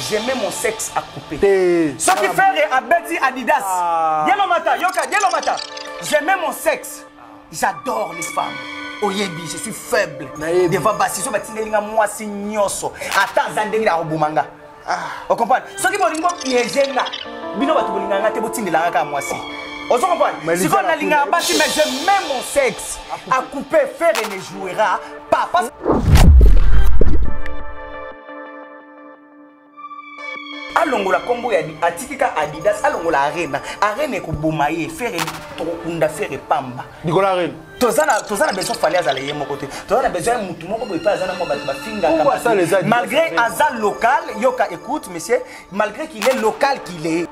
j'aimais mon sexe à couper soki ferre abeti adidas ah. dielo mata yoka dielo mata j'aimais mon sexe j'adore les femmes oyebi je suis faible devant basi so batindeli nga mwasi nyonso ata aza ndenge na koboma nga ah. ocomprendre soki bolingi bopiege nga bino bato bolinga nga te botindelanga kaka mwasi ozo comprendre sikoyo nalingaka basi mais je mets mon sexe à couper faire et ne jouera pas alongola nkombo ya atiki ka adidas alongola arena arena ekoboma ye fere tokokunda fere pamba likolo arena toza na toza na besoin fali azala ye moko te toza na besoin ya motu moko boye mpe aza na mwa bato bafingaka malgré aza local yoka écoute monsieur malgré qu'il est local qu'il est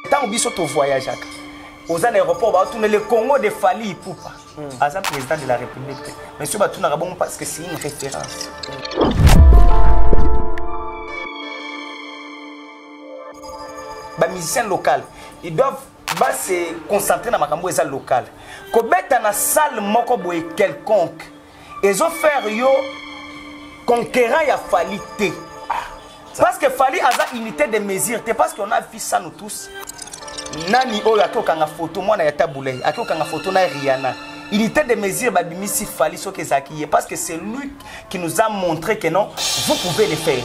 ntango biso tovoyageaka oza na aéroport baotuna le congo de fali ipupa hmm. aza président de la république te mais soki batunaka bongo parce que c'est une référence bamusicien local ils doivent base concentrer na makambo eza local kobeta na salle moko boye quelconque ezo faire yo conquérant ya fali te ah, parce que fali aza unité de mesure te parce qu'on a vu ça nous tous nani oyo ake okanga foto mwana ya tabulei ake okanga foto na riana unité de mesure babimisi fali soki ezalaki ye parce que c'est lui qui nous a montré que non vous pouvez le faire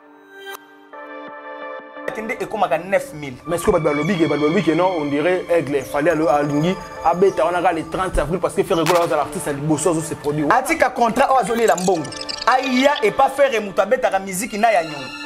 nde ekomaka 9000 mais sikoyo bato balobi ke bato balobi ke non on dirait aigle fali alingi abeta wana kaka le 30 avril parce que ferre gola azala artiste ya liboso azo se produit atika contrat oyo azolela mbongo aya epa ferre moto abetaka miziki na ya nyongo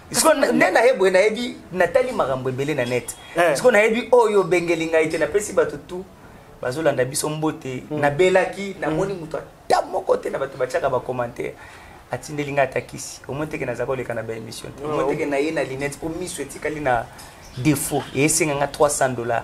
siko nde naye boye nayebi natali makambo ebele na net eh. siko nayebi oyo oh, obengeli ngai te napesi bato tu bazolanda biso mbote hmm. nabelaki namoni hmm. moto ata moko te na bato batiaka bacommentaire atindeli ngai ata kisi omoi teke naza koleka na baémission te omoi teke naye na linete mpo miso etikali na défaut eyesenga ngai 300 dollars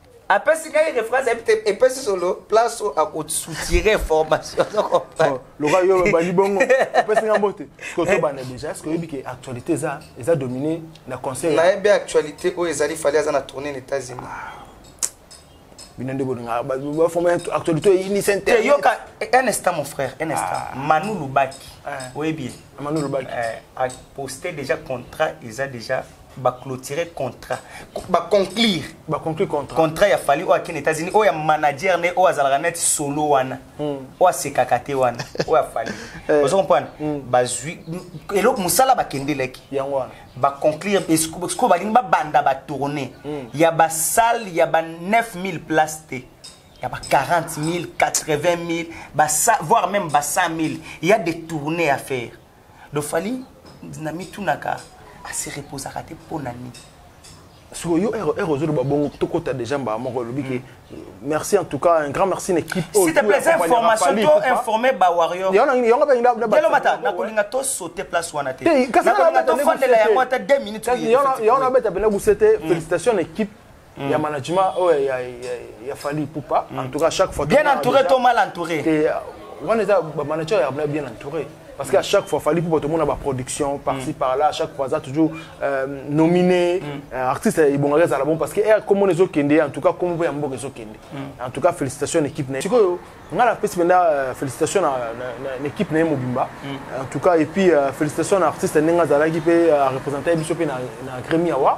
apesi ngai reference ayebi te epesi solo place oyo akosoutire formation loka yo olobandi bongo opesi ngai mbote siko tobanda déjà est ce que oyebi ke actualité eza eza domine na conseil nayebi actualité oyo ezali fali aza na tourne na états-unis ah. bino nde bolinga baforme actualité oyinisa te yoka un instant mon frère un instant ah. manu lubaki ah. oyebi ye manu lubaki eh, aposte déjà contrat eza déjà baclotire contrat baconclure baconclure contrat contrat ya fali oyo akende états-unis oyo ya manager nde oyo azalaka neti solo wana hmm. oyo asekaka te wana oyo afali eh. ozo comprendre hmm. bazwi eloko mosala bakendelaki yango wana baconclure sikoyo balingi babanda batourne hmm. ya basale ya ba 9000 place te ya ba 40 000 80 000 voire même ba 100 000 ya des tournées à faire do fali na mitunaka asi reposaka te mpo na nini siko yo ere ozoloba bongo tokota déjà mbaa moko olobi ke merci en tout cas un grand merci na équipe s'il te plaît information to informer ba warrior yango pe nda belo mata na kolinga to sauter place wana te kasi na kolinga to fandela yango ata 2 minutes yango na beta bena gusete félicitations na équipe Mm. ya management oyo oh, ya, ya, ya fali pupa mm. en tout cas chaque fois bien entouré to mal entouré euh, wana eza bamanager ya bien entouré parce qu'à chaque fois fallait pour tout le monde avoir production par ci mm. par là à chaque fois ça toujours euh, nominé mm. euh, artiste et bon reste à la bon parce que eh, comme on est au Kende en tout cas comme on voit un bon réseau Kende mm. en tout cas félicitations l'équipe n'est sikoyo nga la pesi benda euh, félicitations na, na, na équipe na mobimba mm. en tout cas et puis euh, félicitations na artiste nenga zalaki pe euh, représenter biso pe na, na Grammy Award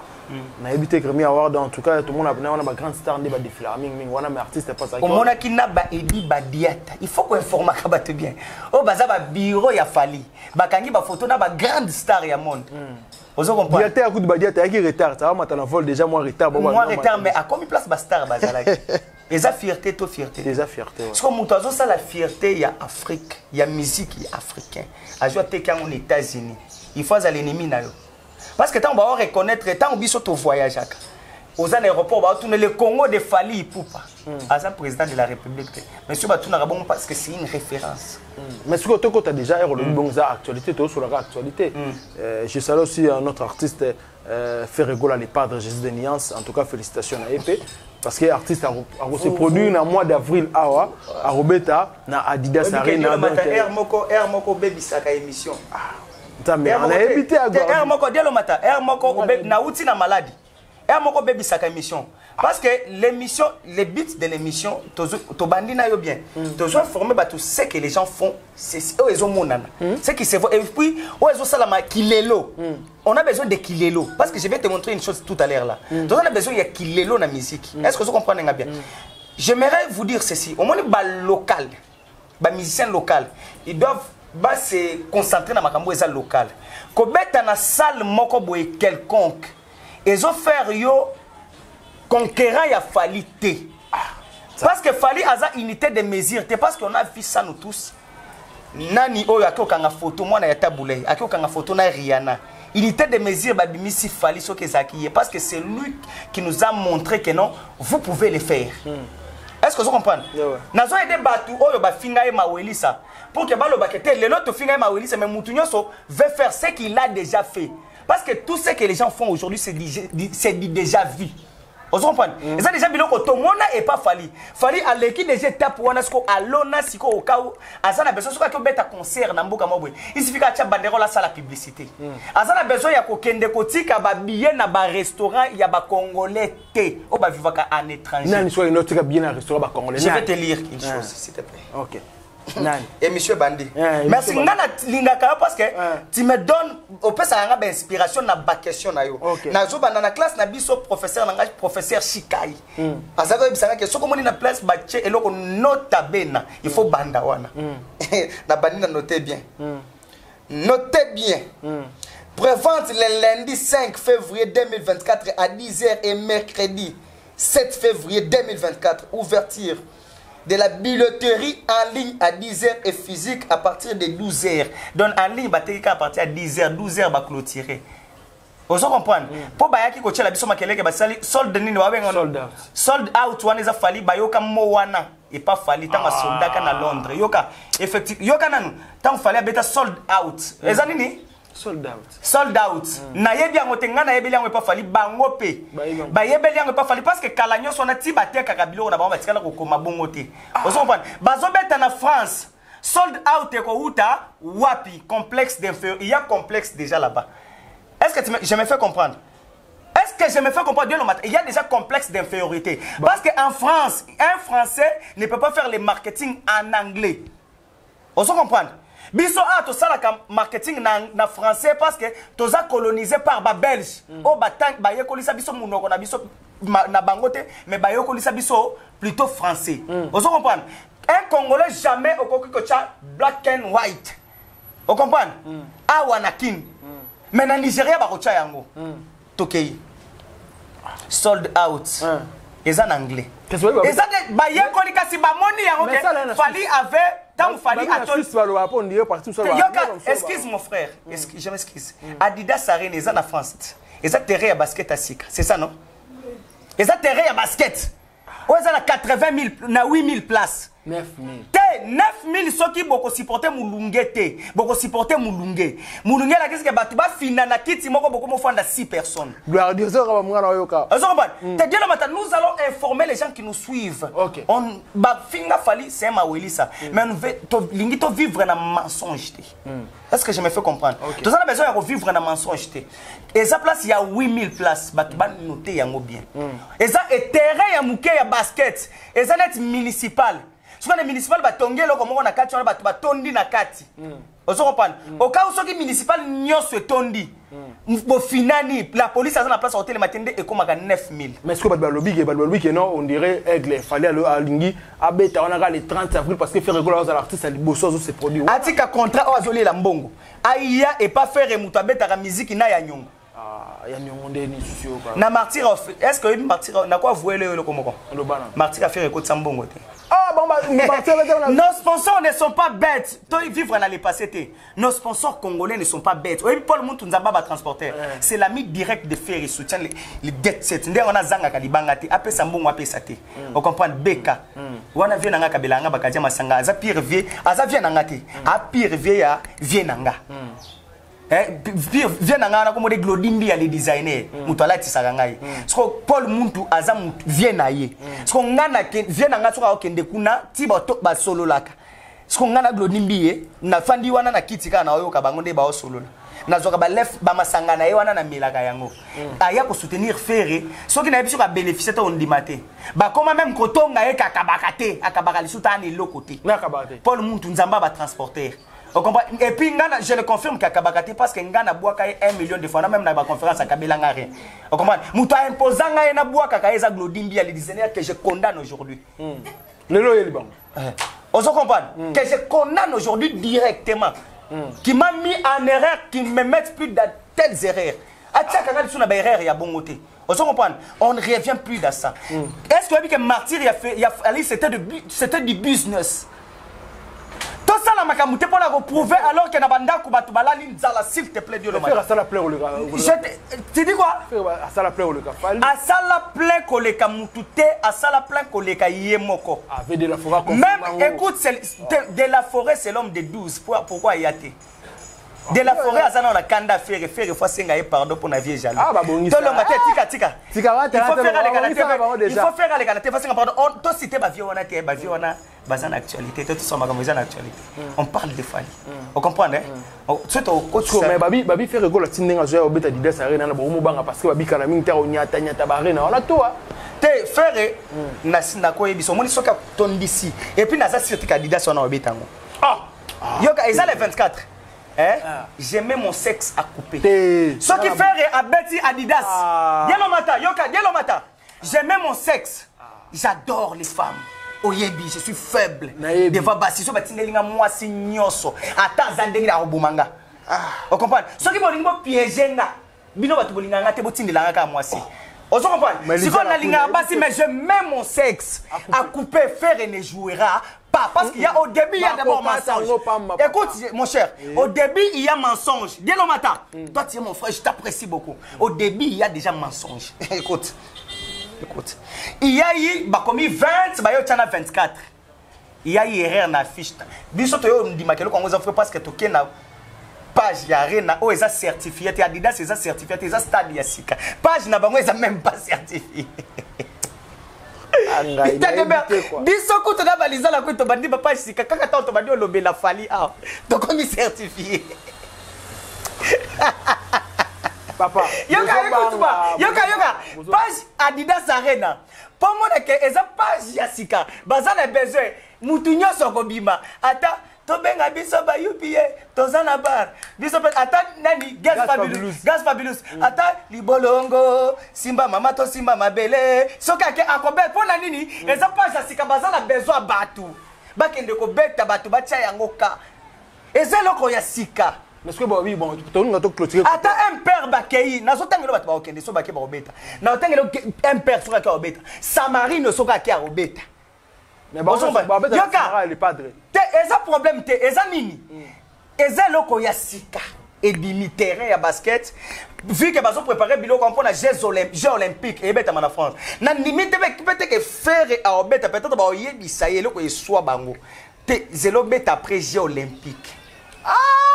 nayebi te grammy award en tout cas tomona bana wana bagrande star nde badefilaka mingimingi wana mais artiste epasaomonaki na baebi badiata il faut koinformaka bato bien oyo oh, baza babiro ya fali bakangi bafoto na bagrande star ya monde hmm. ozo comprendrediata ya kutu badiata ayaki retard awamata na vol déjà mwa retard mwa retard mais akomi place bastar bazalaki eza fierté to fierté eza fierté soko moto azosala fierté ya afrique ya musique ya africain azwi ateki yango na états-unis il faut azala ennemi na yo parce que ntango bao reconnaître ntango biso tovoyageaka oza na aéroport baotuna le congo de fali ipupa hmm. aza président de la république te mais soki batunaka bongo parce que c'est une référence hmm. mais soki otokota déjà ero olobi hmm. bongo eza actualité toyosolaka actualité euh, je salue aussi un autre artiste euh, ferregola le padre jésus de niance en tout cas félicitations na ye mpe parce que artiste akose produit na mois d'avril awa akobeta na adidas arena donc euh, moko bebisaka émission ah. nzambe anayebi te r moko dialomata r moko nauti na maladi r moko obebisaka émission parce que l'émission le but de l'émission tobandi na yo bien mm. tozwa forme bato ce que les gens font oyo ezomonana mm. ce qui se voit et puis oyo ezosalama kilelo mm. on a besoin de kilelo parce que je vais te montrer une chose tout à l'heure là toza na besoin ya kilelo na musique est ce que ozo comprendre nga bien j'aimerais vous dire ceci omoni balocal ba musiciens local ils doivent ba se concentrer na makambo eza local kobeta na salle moko boye quelconque ezo faire yo conquérant ya fali te ah, parce que fali aza unité de mesure te parce qu'on a vu ça nous tous nani oyo akokanga photo mwana ya tabulei akokanga photo na riana unité de mesure babimisi fali soki ezalaki ye parce que c'est lui qui nous a montré que non vous pouvez le faire mm. est ce que ozo comprendre yeah, ouais. nazo aide bato oyo bafinga ye mawelisa pour que balobaka te lelo tofinga ye mawelisa mais motu nyonso veut faire ce qu'il a déjà fait parce que tout ce que les gens font aujourd'hui c'est déjà vu ozo comprendre mm. eza déjà biloko tomona epa fali fali aleki déjà étape wana siko alona siko okau aza na besoin soki ake obeta concert na mboka mwa boye isifika atya banderole asala publicité mm. aza na besoin ya kokende kotika babillet na barestaurant ya bacongolais te oyo bavivaka en étranger nani soki alingi otika billet na restaurant bacongolais je vais te lire une ah. chose s'il te plaît okay. émission ebandi eh, merci nga nalingaka yo parce que eh. tu me donne opesaka nga bainspiration na baquestion na yo nazobanda na classe na biso professeur na ngai professeur shikai hmm. azalaki oyebisaka ke soki omoni na place batie eloko nota bena il faut banda wana hmm. nabandi na note bien hmm. note bien prévente le lundi 5 février 2024 à 10h et mercredi 7 février 2024 ouverture de la billetterie en ligne à 10h et physique à partir de 12h. Donc en ligne, bateka à partir de 10h, 12h, va clôturer. Vous comprenez Pour bayaki ko tchela biso makele ke basali sold nini wa benga sold out. Sold out wana eza fali bayoka mo wana et pas fali tanga ah. soldaka na Londres. Yoka effectivement yoka nanu tant fali abeta sold out. Eza nini sold out sold out mm. nayebi yango te ngai nayebeli yango epa fali bango mpe bayebeli yango epa fali parce que kala nyonso wana ti batekaka biloko na bango batikala kokoma bongo te ah. ozo comprendre bazobeta na france sold out ekowuta wapi complexe d'inférieur il y a complexe déjà là-bas est-ce que tu me, je me fais comprendre est-ce que je me fais comprendre bien le matin il y a déjà complexe d'infériorité bon. parce qu'en france un français ne peut pas faire le marketing en anglais ozo comprendre biso awa tosalaka marketing na, na français parce que toza colonise par babelge mm. oyo oh, bayekolisa biso monoko na biso ma, na bango te mais bayekolisa biso plutôt français mm. ozo comprendre un congolais jamais okoki kotya black and white ocomprendre mm. awa na kin mm. mais na nigeria bakotya yango mm. tokei sold out ah. eza na anglais eza te bayekoli kasi bamoni yango ke fali avait ntango fali excuse mon frère mm. je m'excuse mm. adidas arena eza na france eza terrain ya basket ya sika c'est ça non eza terrain ya basket oyo eza na 80000 na 8000 place 9000 te 9000 soki bokosupporte molunge te bokosupporte molunge molunge elakisi ke bato bafina na kiti moko bokomi ofanda 6 personnes gloiriozoka bamwana oyoka ozokombana mm. te dielo mata nous allons informer les gens qui nous suivent okay. on bafinga fali c'est mawelisa mm. mais tolingi tovivre na mensonge te mm. Est-ce que je me fais comprendre okay. Toza na besoin ya ko vivre na mensonge te. Eza place ya 8000 places bato ba noter yango bien. Mm. Eza et terrain ya muke ya basket. Eza net municipal. Soki na municipal ba tongi eloko moko na kati wana bato ba tondi na kati. Mm. Ozo comprendre mm. Au cas où soki municipal nyoso etondi. hmm. bofinani la police aza na place akotelema te nde ekomaka 9000 mais ceque bato balobi ke bato balobi ke non on dirait aigle fali alingi abeta wana kaka le 30 avril parce que ferre gola azala artiste ya liboso azo se produire atika contrat oyo azoliela mbongo aya epa ferre moto abetaka miziki na ya nyongo ah, ya nyongo nde lisusu yo na martyr est ce que oyebi martyr nako avouele yo eloko moko martyr affaire ekotisa mbongo te ah, Nos sponsors ne sont pas bêtes. Toi, vivre dans le passé, Nos sponsors congolais ne sont pas bêtes. Oyebi Paul Muntu Nzamba ba transporteur. Eh. C'est l'ami direct de Ferry soutient les, les dettes set. Nde wana zanga kalibanga te, apesa mbongo apesa te. Mm. Vous comprenez BK. Mm. Wana vie nanga kabela nga bakadia masanga, aza pire vie, aza vie nanga te. Mm. A pire vie ya vie nanga. Eh, vie na ngai wana komode glodimbi ya le designer moto alatisaka ngai soko paul muntu aza vie na ye soko ngai vie na ngai soki akokende kuna ti basololaka siko ngai na glodi mbiye nafandi wana na kiti kaka naoyoka bango nde baosolola nazwaka balef bamasanga na ye wana namelaka yango mm. aya kosoutenir fere soki nayebi soki abénéficie to ondima te bakoma meme kotonga ye kakabaka te akabaka lisusu ta ana eloko te paul muntu nzambe abatransporter Et puis, je le confirme qu'à Kabakati, parce que Ngana Bouaka est un million de fois, même dans la conférence à Kabila rien. Vous comprenez Mouta imposant Ngana Bouaka, Kaeza Glodimbi, les dizaines que je condamne aujourd'hui. Hmm. Le loyer, eh. ozo comprendre mm. que je condamne aujourd'hui directement mm. qui m'a mis en erreur qui me met plus dans telles erreurs atiaka nga lisusu na baerreur ya bongo te ozo comprendre on ne revient plus dans ça mm. est ce que oyebi ke martyr ya, ya ali c'était du business tosala makambo te mpo na koprouve alors ke na bandako bato balali nzala s'il te plaît diolomajete tu dis quoi asala plein koleka fali asala plein koleka mutu te asala plein koleka ye moko avec de la forêt même écoute de, de la forêt c'est l'homme de 12 pourquoi ya te de la forêt aza nao na kanda fere fere fo asenga ye pardon mpo na vie jaloux ah, tolonga te tika tika il faut fere aleka na te fo asenga pardon tosite bavie wana te bavie wana baza na actualité to tosoma makambo eza na actualité mm. on parle de fali mm. o comprendre mm. oh, so tokotime babi babi fere ekola ti ndenge azoya obeta didas arena na bokomo banga parce que babikana mingi te onyata nyata barena wana toa te fere nakoyebisa omoni soki atondisi epuis naza sire te kadidas wana obeta yango ah! ah. yoka eza le 24 Hein? Ah. J'aimais mon sexe à couper. Ce qui fait Abeti Adidas. Ah. Dielo Mata, Yoka, Dielo Mata. j'aime mon sexe j'adore les femmes oyebi je suis faible devant basi so batindeli nga mwasi nyonso ata aza ndenge na koboma nga ah. ocomprendre soki bolingi bopiége nga bino bato bolingaka nga te botindela nga kaka mwasi oh. ozo comprendre sikoyo nalingaka basi mais je mets mon sexe akupe ah, fere ne jouera pas parce qu'il y a au début il y a d'abord mensonge écoute mon cher au début il y a mensonge Dielo Mata mm. toi tu es mon frère je t'apprécie beaucoup au début il y a déjà mensonge écoute écoute il y a eu bah comme 20 bah yo tchana 24 il y a eu erreur na fiche biso to yo ndima keloko ngo za frère parce que to kena page ya arena oyo eza certifié te adidas eza certifié te eza stade ya sika page na bango eza même pas certifié Ah, ngai Tete nayebi Ber- te kwa. biso kutu na balizala kutu tobandi bapa sika kaka ntango tobandi olobela fali awa tokomi certifie papa yoka bozo yoka tuba banga, yoka bozo- yoka bozo- page adidas arena mpo monake eza page ya sika baza na besoin motu nyonso akobima ata tobenga biso ba upa toza na bar biso mpe ata nani gas fabulus gas fabulus mm. ata libolongo simba mama to simba mabele soki ake akobe mpo na nini mm. eza page ya sika baza na besoin ya bato bakende kobeta bato batya yango ka eza eloko ya sika ata impere bakei nazotangela bato bakokende so bake bakobeta naotangela impere soki ake akobeta samarino soki ake akobeta te eza problème te eza nini mm. eza eloko ya sika ebimi terrain ya basket vu que bazo préparer biloko mpo na jeux olympique eyebetama na france na ndimi te peteke fere aobeta peut-être baoyebisa ye eloko eswa bango te zelo beta après jeux olympique ah!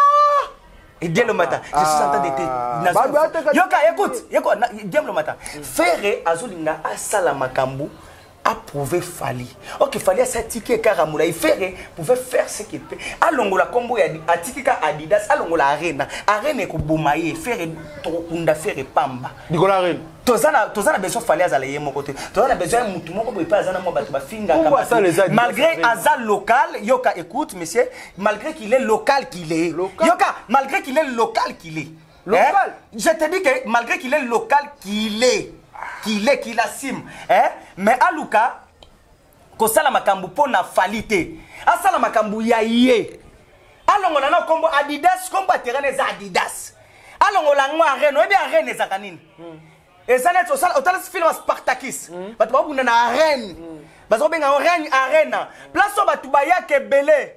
et Dieu le matin, je suis en train d'été. Ah. Bah, bah, Yoka, écoute, écoute, Dieu le matin. Ferre azolinga asala makambu approuver Fali. Ok, Fali a satike kara moulaye Ferre pouvait faire ce qu'il peut. Alongola combo ya atikika Adidas, alongola Arena. Arena eko bomaye Ferre tokunda Ferre pamba. Nicolas Arena. tozana tozana besoin fali azala ye moko te tozana besoin ya mutu moko boye mpe aza na mwa bato bafingaka malgré aza local yoka écoute monsieur malgré qu'il est local qu'il est yoka malgré qu'il est local qu'il est Local. Eh? Je te dis que malgré qu'il est local, qu'il est, qu'il est, qu'il assume. Eh? Mais Aluka, kosala makambu mpo na fali te asala makambu ya ye alongola na kombo adidas kombo ya terrain eza adidas alongola yango arene oyebi arene ezaka nini mm. eza neti otalisi filme ya spartakis mm. bato babunda na arene mm. baza kobenga yango règne arena place oyo bato bayaka ebele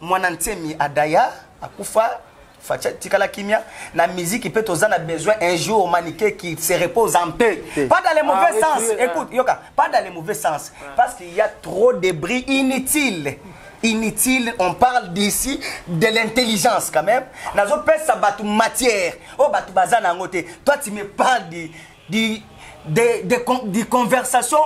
Mwana Nsemi Adaya akufa Facha tikala kimia na musique peut toza na besoin un jour Manike qui se repose en paix pas dans les mauvais ah, sens oui, écoute yoka pas dans les mauvais sens ah. parce qu'il y a trop de bruit inutile inutile on parle d'ici de l'intelligence quand même nazo pesa batu matière oh batu baza na ngote toi tu me parles de de de, de, de, de conversation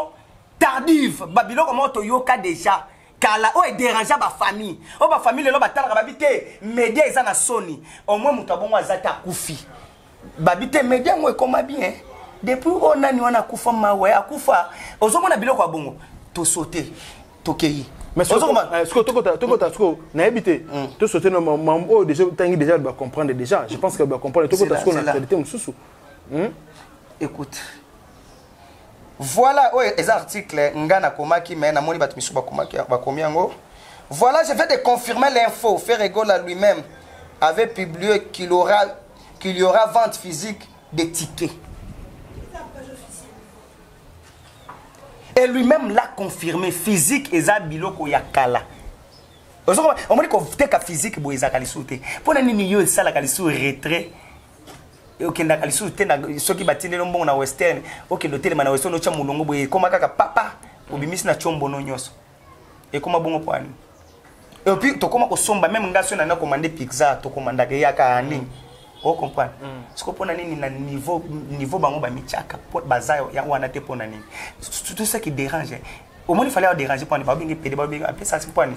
tardive babiloko moko toyoka déjà kala oyo ederangea bafamille oyo bafamille lelo batalaka babi te media eza na soni omoi moto abongo aza te akufi babi te media yango ekoma bien depuis oyo nani wana akufa mawe akufa ozomona biloko ya bongo tosote tokei tokota sikoyo nayebi te tosote na mambo oyo deja otangi deja bacomprendre deja je pense que bacomprendre tokota sikoyo na actualité mosusu écoute Voilà, oyo eza article nga nakomaki mais namoni bato misusu bakomaki bakomi yango. Voilà, je vais te confirmer l'info. Ferregola lui-même avait publié qu'il aura qu'il y aura vente physique des tickets. Et lui-même l'a confirmé, physique eza biloko ya kala. omoni koteka physique boye ezalaka lisusu te mpo na nini yo esalaka lisusu retrait okendaka lisusu te soki batindeli mbongo na western okende otelema na western otya molongo boye ekoma kaka papa obimisi na tiombono nyonso ekoma bongo mpo ani epuis tokoma kosomba meme ngai soki nanga komande pizza tokomandaka eyaka ani mm. ocomprendre mm. soko mpo na nini na niveau niveau bango bamityaka baza yango wana te mpo na nini tout ça qui dérange omoni fale ya dérange mpo ani babenge pede babenge apesa mpo ani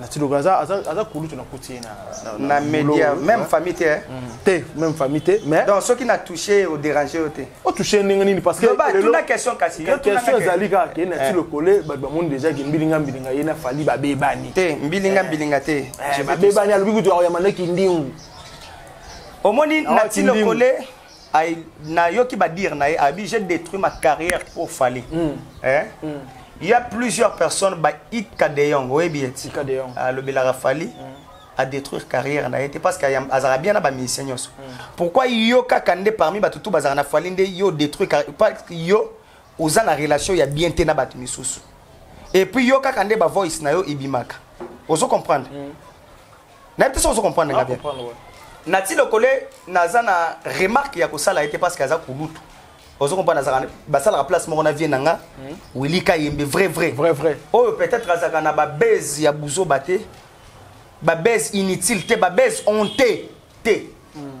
na tilogo aza aza aza kulutu na kuti ye na na media même famille te hein? mm. te même famille te mais donc soki na toucher au déranger yo te o toucher ndenge nini parce que ba tuna question kasi yo tuna question ezali kaka ke na eh. tilogo le ba ba monde déjà ke mbilinga mbilinga ye na fali ba bebani te mbilinga eh. mbilinga te eh, ba bebani alobi kutu ya mandaki ndingu omoni na tilogo le Ay, na yoki ba dire na ye abi j'ai détruit ma carrière pour Fally. Mm. Hein? Mm. Il y a plusieurs personnes ba Ika de Jong, oui bien. Ika de Jong. Ah, le Belara Fally. Mm. à détruire carrière na ye te parce que azalaka bien na bamusicien nyonso mm. pourquoi yo kaka nde parmi bato tu bazalaka na fali nde yo détruire parce que yo oza na relation ya bien te na bato misusu et puis yo kaka nde ba voice na yo ebimaka ozo comprendre mm. nayebi te soki ozo comprendre nga bien nati lokole naza na remarque ya kosala ye te parce que aza kulutu ozo comprendre azalaka basalaka place moko na vie na nga hmm. wili kayembe vrai vrai vrai vrai oyo peut-être azalaka na babase ya buzoba te babase inutile te babase honte te hmm.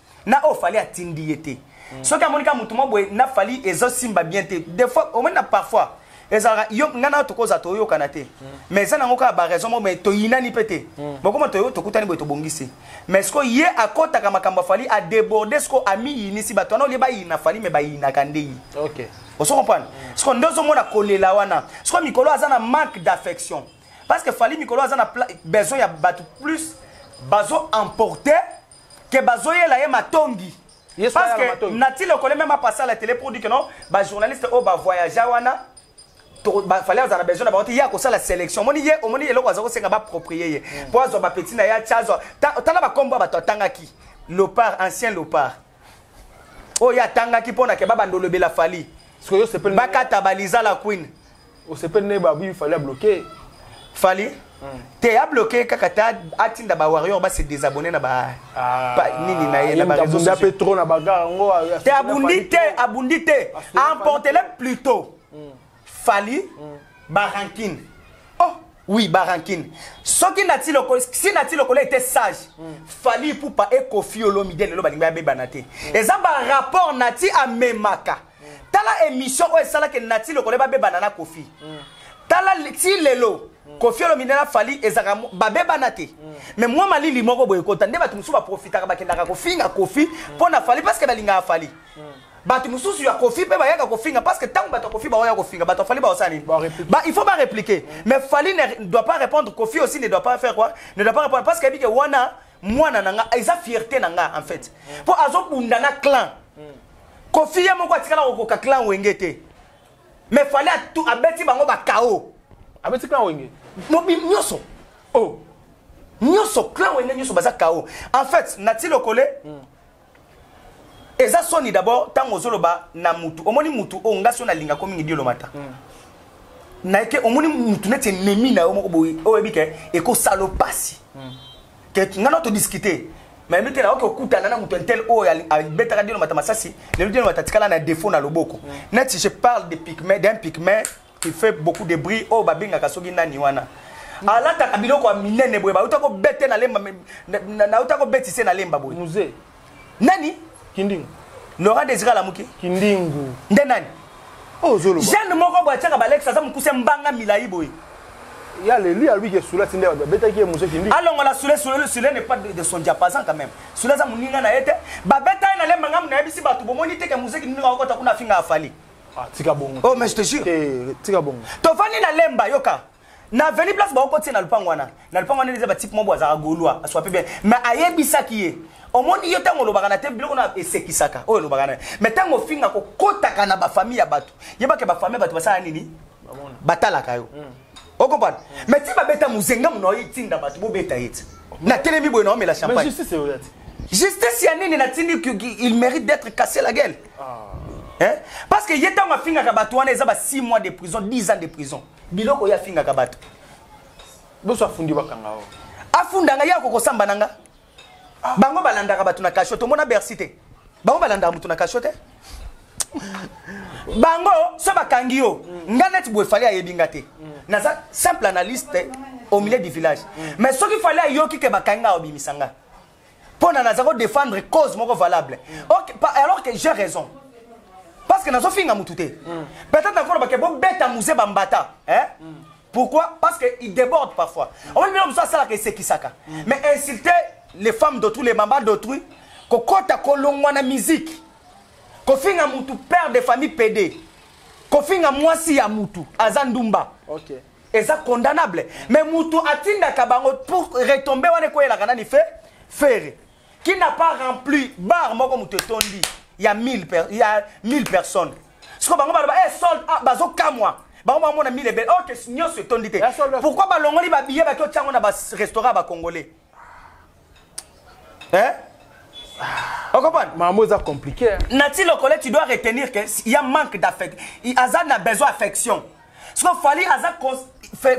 na oyo fali atindi ye te mm. soki amoni kaka motu mwa boye na fali ezosimba bien te des fois omoni na parfois ezalaka yo ngai nayo tokozala toyokana te mm. mais eza nango kaka baraison moko mai toyinani mpe te mm. bokoma toyo tokutani boye tobongisi mais sikoyo ye akɔtaka makambo afali adeborde sikoyo amiyinisi bato wana olie bayina fali mai bayinaka nde ye okay. ozo comprendre mm. sikoyo nde ozomona kolela wana sikoyo mikolo aza na manque d'affection parce que fali mikolo aza na besoin ya bato plus bazo emporter que bazoyela ye matongi parce que nati lokole meme apasa la télé pour dire que non bajournaliste oyo bavoyagea wana fallait azala besoin na bango te ye akosala sélection omoni ye omoni eloko aza kosenga baproprie ye hmm. mpo azwa bapeti na ye atya azwa tala bakombo ya bato atangaki lopar ancien lopar oyo ye atangaki mpo na ke babanda olobela fali bakata baliza la queen osepeli na ye babu fali abloke fali hmm. te abloke kaka te atinda ba warrior base désabonne na ba ah. nini na ye na ba réseaux sociaux pe trop na bagarre yango te abundi te abundi te emportele plutôt hmm. fali hmm. barankine oh oui barankine soki nati lokola si nati lokola ete sage fali pupa ekofi olomide lelo balingi bayabebana te eza barapport nati amemaka tala émission oyo esalaki nati lokola babebana na kofi mm. tala ti lelo mm. kofi olomide na fali ezalaka babebana te mm. mais mwa malili moko boye ekota nde bato mosusu baprofitaka bakendaka kofinga kofi mpo na fali parceke balingaka fali bato mosusu ya kofi mpe bayaka kofinga parce que ntango bato ya kofi baoya kofinga bato ya fali baosala nini ba, il faut barepliquer mais fali ne doit pas répondre kofi aussi ne doit pas faire quoi ne doit pas répondre parce que ayebi ke wana mwana na nga eza fierté na nga en fait mpo azobunda na clan kofi ye moko atikala kokoka clan wenge te mais fale abeti bango bakao abeti clan wenge mobi nyonso o oh. nyonso clan wenge nyonso baza kao en fait nati lokole mm. eza soni d'abord ntango ozoloba na mutu omoni mutu oyo ngasi oyo nalingako mingi diolomata mm. nayeke omoni mutu neti enemi na yo moko boye oyo oyebi ke ekosalo mpasi mm. te nga na to discuter mais mike na oke okutana na moto intel oyo abetaka dino mata masasi lelo dino mata tikala na défaut na loboko mm. neti je parle de pigment d'un pigment qui fait beaucoup de bruit oyo babengaka soki nani wana mm. alataka biloko ya minene boye bauta kobete na lemba nauta kobetise na lemba boye nani kindingu laurent desira alamuki kindingu nde nani oh, jeune moko boye atiaka balex aza mokuse mbanga milai boye ya leli alobi ke sula ti nde babetaki ye mosusu kindingu alongola sule sule sule ne pas de son diapason quand même sule aza moninga na ye te babeta ye na lemba ngambo nayebisi bato bomoni te ke mozeki kindingu akokota kuna afinga afali ah, tika bongo oh mais je te jure tika bongo tovandi na lemba yoka na aveni place baokoti ye na lopango wana na lopango wana eza batipe moko azalaka golois aswape bien mais ayebisaki ye omoni yo ntango olobaka na te biloko na esekisaka oyo olobaka na ye mais ntango ofinga kokotaka na bafamille ya bato yebaka bafamille ya bato basala nini batalaka yo mm. okompana mm. mais ti babeta mozenga mona oyitinda bato bobeta ye ti natelemi boye naomela champagne justice ya nini natindi il mérite d'être cassé la gueule ah. hein? parce que ye ntango afingaka bato wana eza ba 6 mois de prison 10 ans de prison biloko ye afingaka bato boso afundi bakanga o afunda nga ye akokosamba na nga ah. bango balandaka bato na kasho tomona bersi te bango balandaka moto na kasho te bango so bakangi yo mm. nga neti boye fali ayebi nga te mm. naza simple analyste au milieu du village mm. mais soki fali ayoki ke bakangi nga obimisa nga mpo na naza ko défendre cause moko valable okay, alors que j'ai raison parce que nazofinga motu te mm. peut-être nakoloba ke bobeta muse bambata eh? mm. pourquoi parce que il déborde parfois omoni bino mosusu asalaka esekisaka mm. mais insulter les femmes d'autrui les mama d'autrui kokota kolongwa na musique kofinga motu père de famille pede kofinga mwasi ya mutu aza ndumba okay. eza condamnable mais mutu atindaka bango pour retombe wana ekoyelaka nani fe fere qui n'a pas rempli bar moko mutu etondi ya 1000 per, ya 1000 personnes siko bango baloba eh sold ah, bazokamwa bango bamona 1000 ebele ok nyonso etondi te pourquoi balongoli babiye baki otyango na barestaurant ya bacongolais eh? okomprendre mamo eza compliqué nati lokole tu dois retenir que ya manque d'affect aza na besoin affection siko fali aza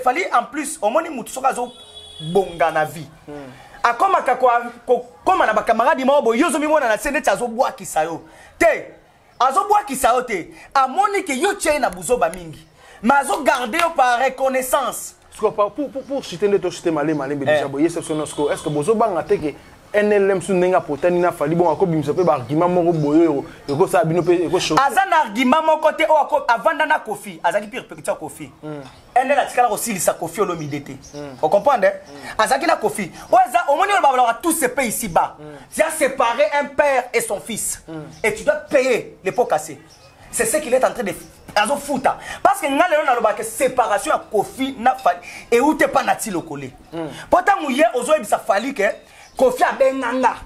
fali en plus omoni motu soki azobonga na vie mm. akomaka kokoma na bacamarade moko boye yo ozomimona na se neti azobwakisa yo te azobwakisa yo te amoni ke yo tie ye na buzoba mingi ma azogarde yo par reconnaissance pour, pour, pour, pour citer nde tosite malema lembe deja boye ye sepsona sikoyo est ce que bozobanga te ke nlm su ndenge apotani na fali bongo akobimisa mpe baargument moko boye oyo ekosala bino mpe aza na argument moko te oyo avanda na kofi azalaki pire pekiti ya kofi hmm. endel atikala kosilisa kofi olomide te mm. ocomprendre mm. azalaki na kofi oyo eza omoni oyo babalaka tout se paye ici bas mm. tu as séparé un père et son fils mm. et tu dois payer les pots cassés c'est ce qu'il est en train de azofuta parce que ngai lelo nalobaka séparation ya kofi na fali euti epa na ti lokole mm. mpo ntango ye ozoyebisa fali ke kofi abenga nga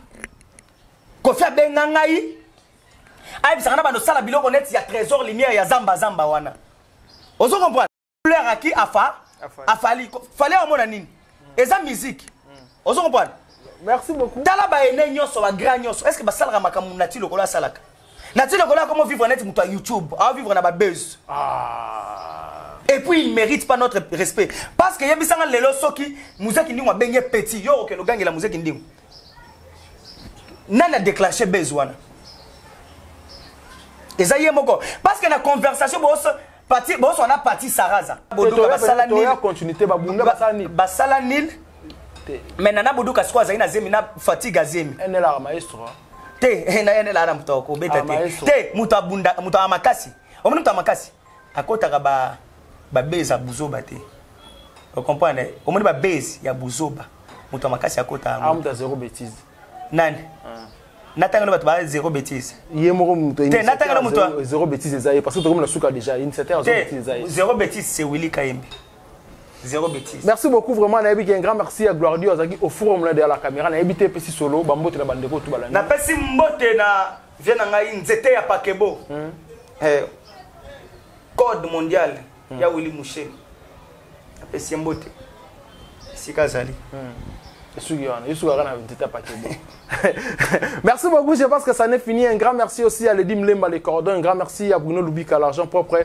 kofi abenga ngai ayebisaka na bando sala biloko neti ya trésor lumière ya zamba zamba wana ozo comprendre fleur aki afa afali fali amona nini eza musique hmm. ozo comprendre merci beaucoup tala ba ene nyoso ba grand nyoso est ce que basalaka makambo na ti lokola asalaka na ti lokola akomo vivre neti moto ya youtube ao vivre na babuse ah. et puis il mérite pas notre respect parce que yebisanga lelo soki muzeki ndingo abengi petit yo okende ogangela muzeki ndingo nani adeclenche base wana eza ye moko parce que na conversation boso pati boso na pati saraza boduka basala nil continuité babunda basala nil basala nil mais nana boduka siko azali na zemi na fatigue azemi enela maestro hein. te eh, na enela na moto akobeta ah, te te moto abunda moto ya makasi omoni moto ya makasi akotaka ba ba base ya buzoba te o comprendre omoni ba base ya buzoba moto ya makasi akota yango ah, moto ya zero bêtise nani ah. natanga na bato ba zero bêtise ye moko moto te natanga na moto zero bêtise eza ye parce que tokomi na suka déjà initiateur ya zero bêtise eza ye zero bêtise c'est Willy Kayembe zero bêtise merci beaucoup vraiment nayebi ke un grand merci ya gloire dio azalaki au forum na derrière la caméra nayebi te epesi solo bambote na bandeko tu balandi napesi mbote na vie na ngai nzete ya pakebo mm. eh, code mondial mm. ya willi musheni apesi ye mbote esika azali mm. esuki wana esuki aka na nzete ya pakebo merci beaucoup. Je pense que ça n'est fini. Un grand merci aussi à Lady Mlemba, les cordons. Un grand merci à Bruno Lubika, l'argent propre.